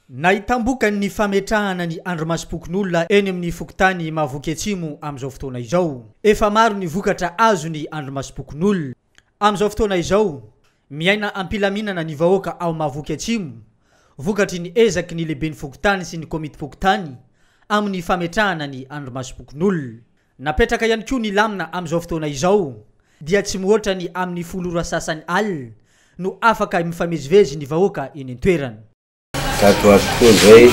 Nahitam-bokany ny fametrahana ny andrimasom-pokonolona eny amin'ny fokontany Mahavoky Atsimo amin'izao fotoana izao. Efa maro ny vokatra azo ny andrimasom-pokonolona. Amin'izao fotoana izao, miaina am-pilaminana ny vahoaka ao Mahavoky Atsimo, vokatry ny ezaky ny lehiben'ny fokontany sy ny komitim-pokontany amin'ny fametrahana ny andrimasom-pokonolona. Napetraka ihany koa ny lamina amin'izao fotoana izao dia tsy mihoatra ny amin'ny folo ora sasany alina no afaka mifamezivezy ny vahoaka eny an-toerana. Tato ho ato koa izay,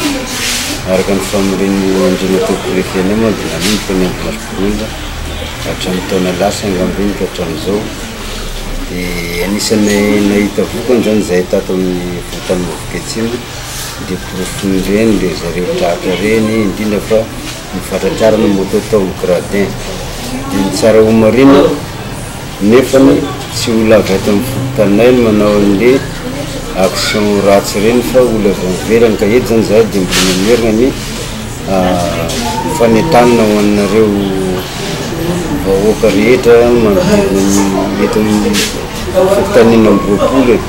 araka ny famorian'ny Andriamatoa Prefet-nay moa dia nanomboka ny andro valo-bolana hatramin'ny taona lasa angamba iny ka hatramin'izao dia anisan'ny nahita vokany izany izahay tato amin'ny Fokontany Mavoketsimo dia porofon'ireny ry zareo tratra ireny indrindra fa ny fatratraran'ny moto tao amin'ny gradin dia ny tsara ho marina nefany tsy olona avy ato amin'ny fokontaninay no manao an'le action ratsy ireny fa olona avy any ivelany ka eto zany zahay dia mbola mamerina ny fanentanana ho anareo vahoaka rehetra manodidina ny eto amin'ny fokontanin'ny enina amby roapolo e.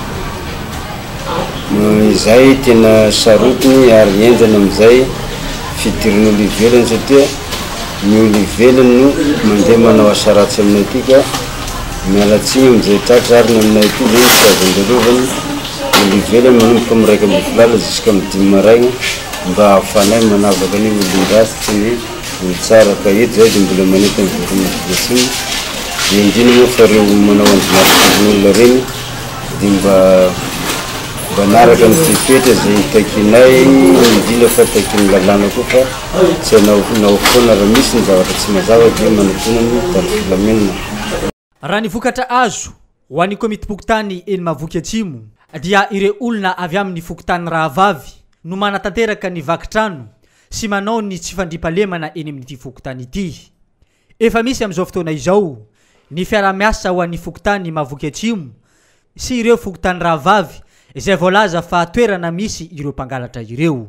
Noho izay tena sarotiny ary henjana amin'izay fidiran'olo ivelany satria ny olo ivelany no mandeha manao asa ratsy aminay ty ka miala tsiny amin'izay tratra ary ny aminay aty zany tsy azo andalovany, olo ivelany manomboka amin'ny raika ambin'ny folo alina ziska amin'ny dimy maraigna mba ahafanay manavaka ny olon-dratsy sy ny olo tsara ka eto zahay de mbola manenty an'i Voalohany Ampiriatsimo, de indrindra moa fa reo manao andro maty fozin'olo reny dia mba manaraka ny fepetra izay takianay, indrindra fa takian'ny lalàna koa fa tsy hanao hanao foana raha misy ny zavatra tsy mazava dia manatona ny mpitandro filaminana. Raha ny vokatra azo, ho an'ny komitim-pokontany eny Mahavoky Atsimo, dia ireo olona avy amin'ny fokontany rahavavy no manatanteraka ny vaky trano sy manao ny tsy fandriampahalemana eny amin'ity fokontany ity. Efa misy amin'izao fotoana izao ny fiaraha-miasa ho an'ny fokontany Mahavoky Atsimo sy ireo fokontany rahavavy izay voalaza fa toerana misy ireo mpangalatra ireo.